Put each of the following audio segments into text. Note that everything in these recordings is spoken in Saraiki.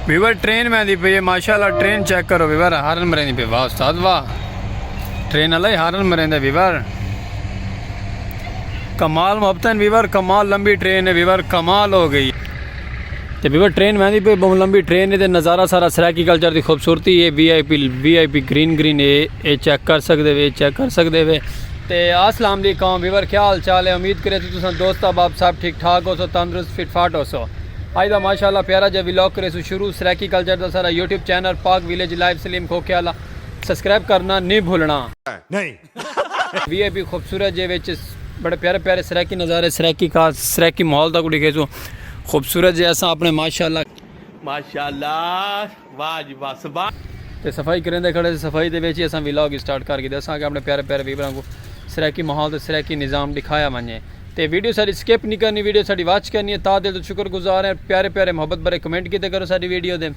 ویور ٹرین میں دی پہ ماشاءاللہ ٹرین چیک کرو ویور ہارن مرین دی پہ واہ استاد واہ ٹرین اللہ ہی ہارن مرین دے ویور کمال محبتن ویور کمال لمبی ٹرین ہے ویور کمال ہو گئی تے ویور ٹرین میں دی پہ بہن لمبی ٹرین ہے تے نظارہ سارا سرائکی کلچر دی خوبصورتی ہے بی آئی پی بی آئی پی گرین گرین ہے اے چیک کر سکتے وے اے چیک کر سکتے وے تے آسلام علیکم ویور کیا حال چال ہے امید کرے تو تساں دوست احباب سب ٹھیک ٹھاک ہو سو تندرست فٹ فاٹ ہو سو آج دا ماشاءاللہ پیارا جا ویلاگ کرے سو شروع سرائیکی کلچر دا سارا YouTube channel Pak village life Saleem کھوکھے والا سبسکرائب کرنا نی بھولنا۔ وی آئی پی خوبصورت جے وچ بڑے پیارے پیارے سرائیکی نظارے سرائیکی کا سرائیکی ماحول دا کو ڈیکھے سو خوبصورت جے اساں اپنے ماشاءاللہ۔ واہ جی واہ سبحان۔ تے صفائی کریندے کھڑے سے صفائی دے وچ ہی اساں ولاگ اسٹارٹ کر گھیدا ساں کہ اپنے پیارے پیارے ویوراں کوں سرائیکی ماحول تے سرائیکی نظام ڈکھایا ونجے تے ویڈیو ساڈی سکپ نی کرنی ویڈیو ساڈی واچ کرنی ہے تہہ دل توں شکر گزار ہیں پیارے پیارے محبت بھرے کمنٹ کیتے کرو ساڈی ویڈیو دے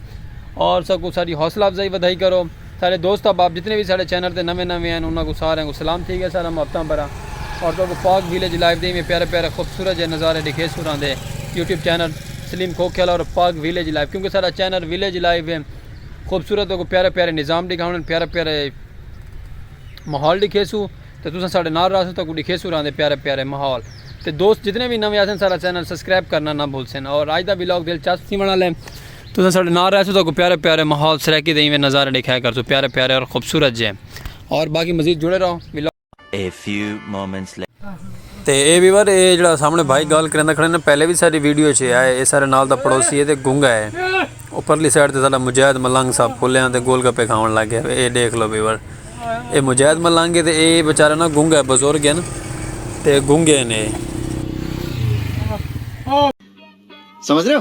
اور ساکوں ساڈی حوصلہ افزائی ودھائی کرو ساڈے دوست احباب جتنے وی ساڈے چینل تے نویں نویں ہن انہاں کوں ساریاں کوں سلام تھی گیا سارا محبتاں بھرا اور تہاکوں پاک ویلیج لائیو دے ایویں پیارے پیارے خوبصورت جے نظارے ڈکھیسوں راں دے یوٹیوب چینل سلیم کھوکھیالہ اور پاک ویلیج لائیو کیونکہ سارا چینل ویلیج لائیو ہے خوبصورت تہاکوں پیارے پیارے نظام ڈکھاونن پیارے پیارے ماحول ڈکھیسوں تے تساں ساڈے نال رہسوں تہاکوں ڈکھیسوں راندے پیارے پیارے ماحول تے دوست جتنے وی نویں آسن سارا چینل سبسکرائب کرنا نہ بھولسن اور آج دا ولاگ دلچسپ تھیون والا ہے تساں ساڈے نال رہسوں تہاکوں پیارے پیارے ماحول سرائیکی دے ایویں نظارے ڈکھایا کرسوں پیارے پیارے اور خوبصورت جے اور باقی مزید جڑے رہو vlog A few moments later. تے اے ویور اے جڑا سامنے بھائی گال کریندا کھڑے نا پہلے وی ساری ویڈیو چ آئے اے سارے نال دا پڑوسی اے تے گنگا اے او پرلی سائیڈ تے ساڈا مجاہد ملنگ صاحب پھلیاں تے گول گپے کھاون لگ گیا اے ڈیکھ لو ویور اے مجاہد ملنگ اے تے اے بیچارہ نا گنگا اے بزرگ اے نا تے گنگے نے سمجھ رہے ہو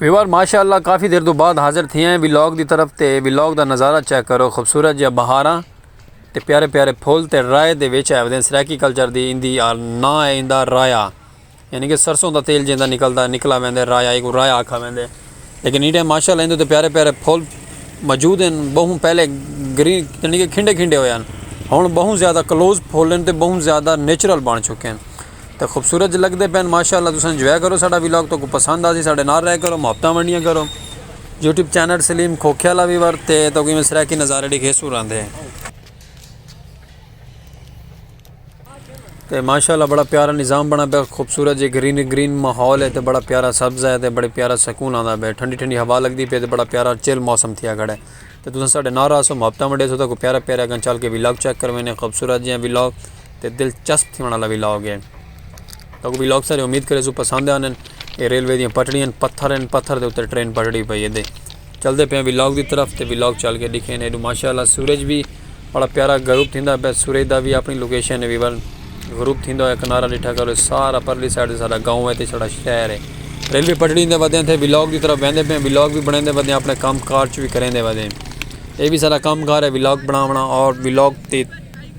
ویوار ماشاءاللہ کافی دیر تو بعد حاضر تھے ہیں ویلاگ دی طرف تے ویلاگ دا نظارہ چیک کرو خوبصورت جہاں بہاراں تے پیارے پیارے پھول تے رائے دے ویچ آئے ودین سریکی کلچر دی اندی نا ہے اندہ رایا یعنی کہ سرسوں دا تیل جیندہ نکلدہ نکلا ویندے رایا ایک رایا آکھا ویندے لیکن ایڈے ماشاء اللہ ایندے تے پیارے پیارے پھول موجود ہیں بہوں پہلے گرین یعنی کہ کھنڈے کھنڈے ہوئے ہیں ہن بہوں زیادہ کلوز پھول ہیں تے بہوں زیادہ نیچرل بن چکے ہیں تے خوبصورت لگدے پئے ہیں ماشاء اللہ تساں انجوائے کرو ساڈا ولاگ تہاکوں پسند آسی ساڈے نال رہیا کرو محبتاں ونڈیاں کرو یوٹیوب چینل سلیم کھوکھے والا وی ورتے تہاکوں میں سرائیکی نظارے ڈیکھے سو رہندے ہیں تے ماشاءاللہ بڑا پیارا نظام بنا پیا خوبصورت جے گرین گرین ماحول ہے تے بڑا پیارا سبز ہے تے بڑے پیارا سکون آندا پیا ٹھنڈی ٹھنڈی ہوا لگدی پی تے بڑا پیارا چل موسم تھیا کھڑا ہے تے تساں ساڈے نال رہسو محبتاں ونڈے سو تے کوئی پیارا پیارا اگاں چل کے ولاگ چیک کرویں نے خوبصورت جیاں ولاگ تے دلچسپ تھیوݨ والا ولاگ ہے تے کوئی ولاگ سارے امید کرے سو پسند آنن اے ریلوے دیاں پٹڑیاں پتھر ہیں پتھر دے اوتے ٹرین پٹڑی پئی ہے دے چلدے پئے ہیں ولاگ دی طرف تے ولاگ چل کے ڈیکھیں ہیں ایڈو ماشاءاللہ سورج بھی بڑا پیارا غروب تھیندا پئے سورج دا بھی اپنی لوکیشن ہے بھی ون غروب تھیندا ہویا کنارہ ڈیٹھا کرو سارا پرلی سائیڈ تے ساڈا گاؤں ہے تے ساڈا شہر ہے ریلوے پٹڑی دے ودے ہیں تے ولاگ دی طرف ویندے پئے ہیں ولاگ بھی بنیندے ودے ہیں اپنے کام کار چ بھی کریندے ودے ہیں اے بھی سارا کام کار ہے ولاگ بناونا اور ولاگ تے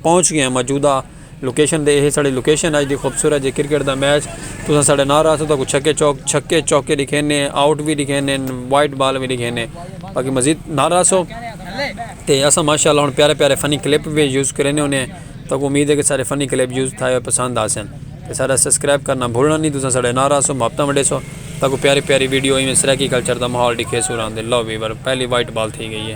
پہنچ گئے ہیں موجودہ لوکیشن تے ایہ ساڑی لوکیشن اج دی خوبصورت جے کرکٹ دا میچ تساں ساڑے نال رہسو تہاکوں چھکے چوک چھکے چوکے ڈکھینے آؤٹ وی ڈکھینے وائٹ بال وی ڈکھینے باقی مزید نال رہسو تے اساں ماشاءاللہ ہن پیارے پیارے فنی کلپ وی یوز کرینے ہونے تہاکوں امید ہے کہ ساڑے فنی کلپ یوز تھائے ہوئے پسند آسن تے ساڑا سبسکرائب کرنا بھولنا نی تساں ساڑے نال رہسو محبتاں ونڈیسو تہاکوں پیاری پیاری ویڈیو ایویں سرائیکی کلچر دا ماحول ڈکھیسو راہندے لو ویور پہلی وائٹ بال تھی گئی ہے۔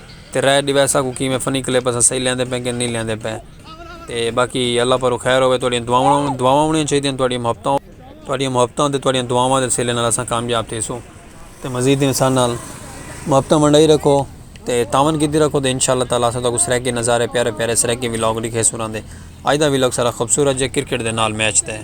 تے رائے ڈیوے اساں کوں کیویں فنی کلپ اساں صحیح لیندے پئے کہ نہیں لیندے پئے تے باقی اللہ پاروں خیر ہووے تہاڈیاں دعاواں دعاواں ہونیاں چاہیدیاں تہاڈیاں محبتاں تہاڈیاں محبتاں تے تہاڈیاں دعاواں دے سلے نال اساں کامیاب تھیسوں تے مزید تساں اساں نال محبتاں ونڈائی رکھو تے تعاون کیتی رکھو تے انشاءاللہ تعالی اساں تہاکوں سرائیکی نظارے پیارے پیارے سرائیکی ولاگ ڈکھیسوں انہاں دے اج دا ولاگ سارا خوبصورت جے کرکٹ دے نال میچ تے ہے